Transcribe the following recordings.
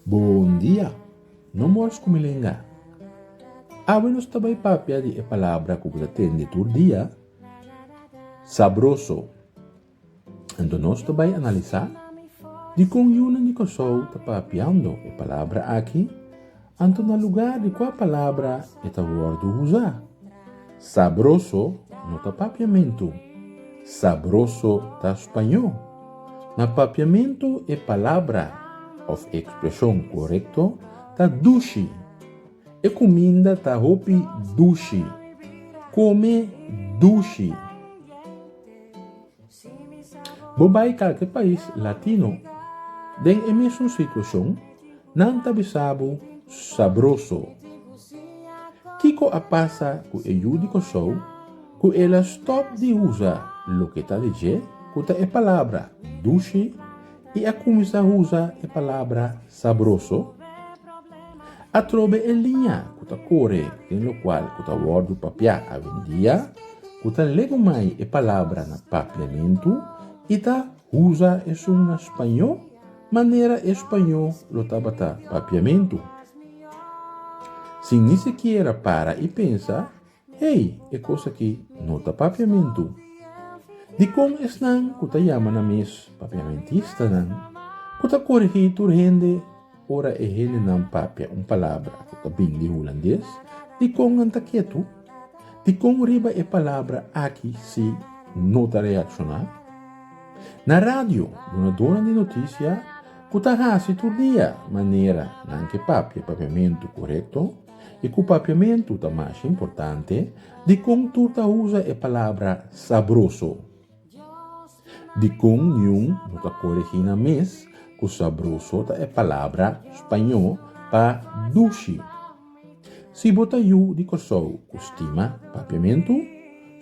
Bon dia! No mors ku mi lenga. Awe nos ta bai papia di e palabra ku bo ta tende tur dia, sabroso. Anto nos ta bai analisá dikon yunan di Kòrsou ta papiando e palabra aki, anto na lugá di kua palabra e ta wòrdu usá. Sabroso no ta papiamentu, sabroso ta spañó. Na papiamentu e palabra òf e ekspreshon korekto ta dushi. E kuminda ta hopi dushi. Kome dushi. Bo bai kalke pais latino den e mesun situacion nan ta bisa bo sabroso. Kico a pasa cu e yu di Kosou cu el a stop di usa loke ta di dje cu ta e palabra dushi y a cuminsa usa e palabra Sabroso? Atrobe e liña ku ta kore den lokual ku ta wòrdu papiá awendia ku ta legumai e palabra na papiamentu i ta usa esun na spañó manera e spañó lo tabata papiamentu. Sin ni sikiera para i pensa, Hey, e kos aki no ta papiamentu. Dikon esnan ku ta yama nan mes papiamentistanan ku ta korigí tur hende ora e hendenan papia un palabra ku ta bini di hulandes? Dikon nan ta ketu? Dikon riba e palabra aki si no ta reakshoná? Na radio, dunadónan di notisia ku ta hasi tur dia manera nan ke papia papiamentu korekto, I ku papiamentu ta masha importante, dikon tur ta usa e palabra sabroso? Dikon niun no ta koregina mes ku sabroso ta e palabra spañó pa dushi? Si bo ta yu di Kòrsou ku stima papiamentu,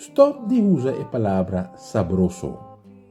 stòp di usa e palabra sabroso.